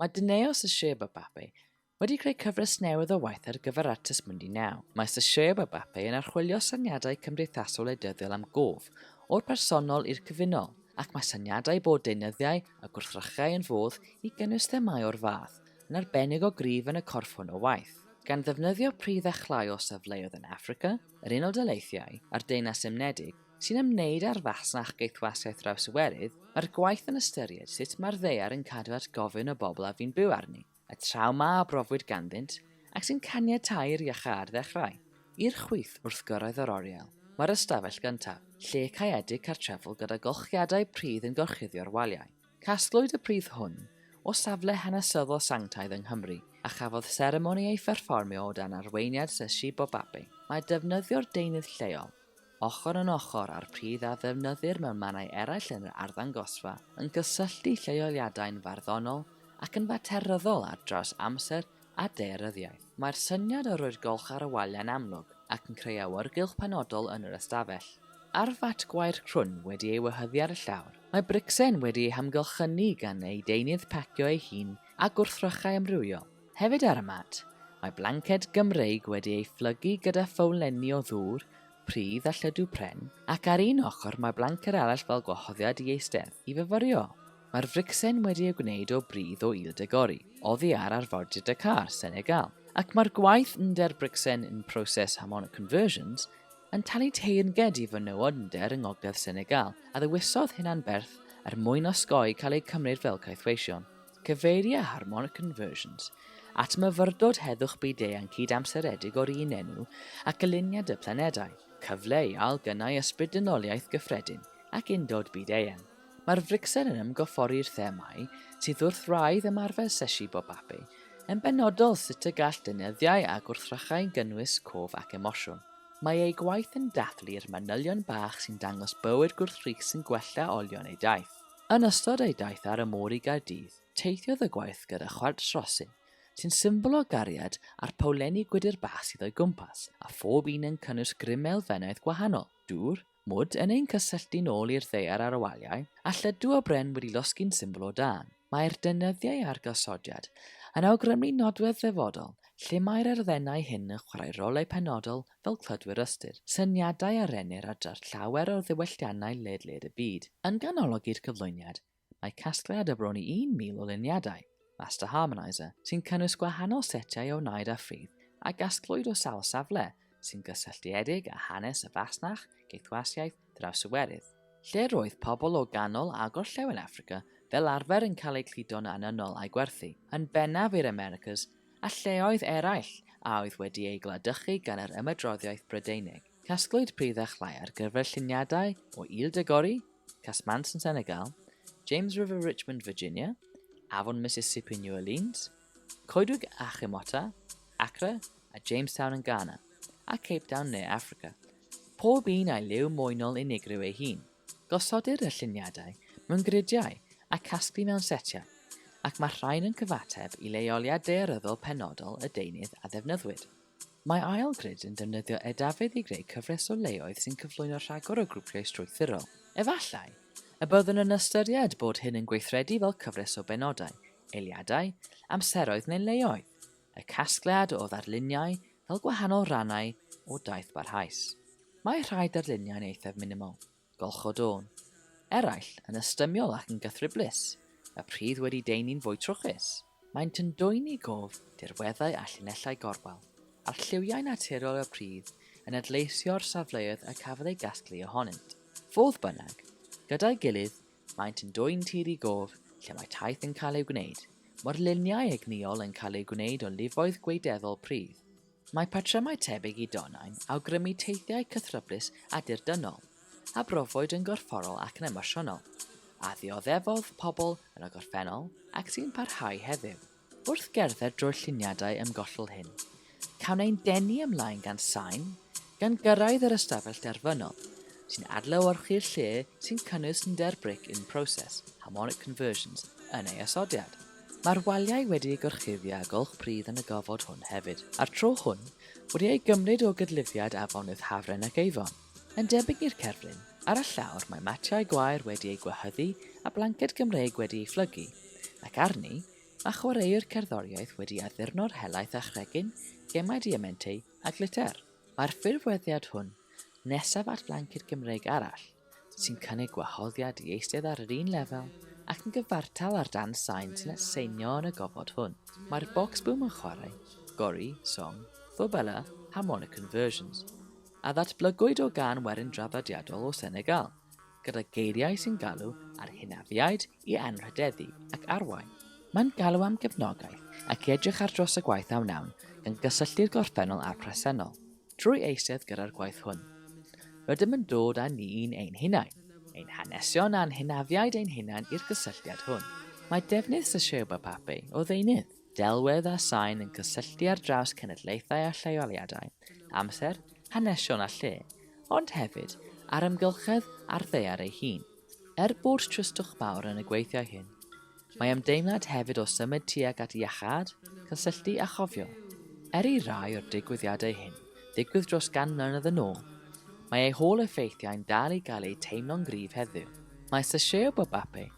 Mae Dineo Sasheba Bape wedi creu cyfres newydd o waith ar gyfer Artes Mundi Now. Mae Sasheba Bape yn archwilio syniadau cymdeithasol wleidyddiol am gof, o'r personol i'r cyfunol, ac mae syniadau bod deunyddiau a gwrthrychau yn fodd i gynnwys themâu o'r fath yn arbennig o gryf yn y corff hwn o waith. Gan ddefnyddio pridd a chlai o safleoedd yn Affrica, yr Unol Daleithiau, a'r Deyrnas Unedig, sy'n ymwneud â'r fasnach geithwasiaeth drawsiwerydd, mae'r gwaith yn ystyried sut mae'r ddaear yn cadw at gofyn y bobl a fu'n byw arni, y trawma a brofwyd ganddynt, ac sy'n caniatáu i'r iachâd ddechrau. I'r chwith wrth gyrraedd yr oriel, mae'r ystafell gyntaf, lle caeedig cartrefol gyda golchiadau pridd yn gorchuddio'r waliau. Casglwyd y pridd hwn o safle hanesyddol sanctaidd yng Nghymru, a chafodd seremoni ei pherfformio o dan arweiniad Sir Shibo Babe. Mae defnyddio'r deunydd lleol, ochr yn ochr â'r pridd a ddefnyddir mewn mannau eraill yn yr arddangosfa, yn cysylltu lleoliadau'n farddonol ac yn fateryddol ar draws amser a daearyddiaeth. Mae'r syniad o roi'r golch ar y waliau'n amlwg ac yn creu awyrgylch penodol yn yr ystafell. Ar fat gwair crwn wedi ei wehyddu ar y llawr, mae bricsen wedi ei hamgylchynu gan ei deunydd pacio ei hun â gwrthrychau amrywiol. Hefyd ar y mat, mae blanced Gymreig wedi ei phlygu gyda phowlenni o ddŵr, pridd a lludw pren, ac ar un ochr mae blanced arall fel gwahoddiad i eistedd, i fyfyrio. Mae'r fricsen wedi ei gwneud o bridd o Île de Gorry, oddi ar arfordir Dakar, Senegal, ac mae'r gwaith under bricsen in process Hamon Conversions yn talu teyrnged i fenywod under yng ngogledd Senegal a ddewisodd hunan-berth er mwyn osgoi cael eu cymryd fel caethweision. Cyfeiria Harmonic Conversions at myfyrdod heddwch byd-eang cyd-amseredig o'r un enw a Gyluniad y Planedau, Cyfle i Ail-gynnau Ysbryd-dynoliaeth Gyffredin ac Undod Byd-eang. Mae'r fricsen yn ymgorffori'r themâu sydd wrth wraidd ymarfer Sesi Bobape, yn benodol sut y gall deunyddiau a gwrthrychau gynnwys cof ac emosiwn. Mae ei gwaith yn dathlu'r manylion bach sy'n dangos bywyd gwrthrych sy'n gwella olion ei daith. Yn ystod ei daith ar y môr i Gaerdydd, teithiodd y gwaith gyda chwarts rosyn, sy'n symbol o gariad a'r powlenni gwydr bach sydd o'i gwmpas, a phob un yn cynnwys grym elfennaidd gwahanol, dŵr, mwd yn ein cysylltu'n ôl i'r ddaear ar y waliau, a lludw o bren wedi losgi'n symbol o dân. Mae'r deunyddiau a'r gosodiad yn awgrymu nodwedd ddyfodol lle mae'r erfennau hyn yn chwarae rolau penodol fel clodwyr ystyr, syniadau a rennir ar draws llawer o ddiwylliannau ledled y byd. Yn ganolog i'r cyflwyniad, mae casgliad o bron i 1,000 o luniadau, Master Harmonizer, sy'n cynnwys gwahanol setiau o wnaed a phridd a gasglwyd o sawl safle sy'n gysylltiedig â hanes y fasnach, geithwasiaeth, Draws y Werydd, lle roedd pobl o ganol a gorllewin Affrica fel arfer yn cael eu cludo'n anniynol a'i gwerthu, yn bennaf i'r Americas a lleoedd eraill a oedd wedi eu gwladychu gan yr ymadroddiaeth Brydeinig. Casglwyd pridd a chlai ar gyfer lluniadau o Île de Gorée, Casamance yn Senegal, James River Richmond Virginia, Afon Mississippi New Orleans, Coedwig Achimota, Accra a Jamestown yn Ghana, a Cape Town Ne Affrica, Pob un â'i liw moenol unigryw ei hun. Gosodir y lluniadau mewn gridiau a casglu mewn setiau, ac mae'r rhain yn cyfateb i leoliad daearyddol penodol y deunydd a ddefnyddwyd. Mae ail grid yn defnyddio edafeydd i greu cyfres o leoedd sy'n cyflwyno rhagor o grwpiau strwythurol. Efallai y byddwn yn ystyried bod hyn yn gweithredu fel cyfres o benodau, eiliadau, amseroedd neu leoedd, y casgliad o ddarluniau Fel gwahanol rannau o daith barhaus, mae rhai darluniau'n eithaf minimol, golchodôn, eraill yn ystymiol ac yn gythryblus, y pridd wedi deunu'n fwy trwchus. Maent yn dwyn i gof dirweddau a llinellau gorwel, a'r lliwiau naturiol y pridd yn adleisio'r safleoedd y cafodd eu gasglu ohonynt. Fodd bynnag, gyda'i gilydd Maent yn dwyn tir i gof lle mae taith yn cael ei gwneud. Morluniau egnïol yn cael eu gwneud o lifoedd gweideddol pridd. Mae patrymau tebyg i donau'n awgrymu teithiau cythryblus a dirdynol, a brofwyd yn gorfforol ac yn emosiynol, a ddioddefodd pobl yn y gorffennol ac sy'n parhau heddiw. Wrth gerdded drwy'r lluniadau ymgollol hyn, cawn ein denu ymlaen gan sain, gan gyrraedd yr ystafell derfynol, sy'n adlewyrchu'r lle sy'n cynnwys nyder bric in process, harmonic conversions, yn ei osodiad. Mae'r waliau wedi eu gorchuddio â gwlch pridd yn y gofod hwn hefyd, a'r tro hwn wedi ei gymryd o gydlifiad afonydd Hafren ac Avon. Yn debyg i'r cerflun, ar y llawr mae matiau gwair wedi eu gwahyddu a blanced Gymreig wedi ei phlygu, ac arni, mae chwaraewr cerddoriaeth wedi addurno'r helaeth â chregyn, gemau diamenteu a gliter. Mae'r ffurfweddiad hwn, nesaf at flanced Gymreig arall, sy'n cynnig gwahoddiad i eistedd ar yr un lefel ac yn gyfartal â'r dan sain sy'n atseinio yn y gofod hwn. Mae'r bocsbŵm yn chwarae, gori, song, fobela, harmonicon versions. a ddatblygwyd o gân werin draddodiadol o Senegal, gyda geiriau sy'n galw ar hynafiaid i anrhydeddu ac arwain. Mae'n galw am gefnogaeth ac i edrych ar dros y gwaith a wnawn, gan gysylltu'r gorffennol â'r presennol. Trwy eistedd gyda'r gwaith hwn, rydym yn dod â ni'n ein hunain, ein hanesion a'n hynafiaid ein hunain i'r gysylltiad hwn. Mae defnydd Secheu Bapape o ddeunydd. Delwedd a sain yn cysylltu ar draws cenedlaethau a lleoliadau, amser, hanesion a lle, ond hefyd ar amgylchedd a'r ddaear ei hun. Er bod tristwch mawr yn y gweithiau hyn, mae ymdeimlad hefyd o symud tuag at iachâd, cysylltu a chofio. Er i rai o'r digwyddiadau hyn ddigwydd dros gan mlynedd yn ôl, mae eu hôl-effeithiau'n dal i gael eu teimlo'n gryf heddiw. Mae Sasheau Bobape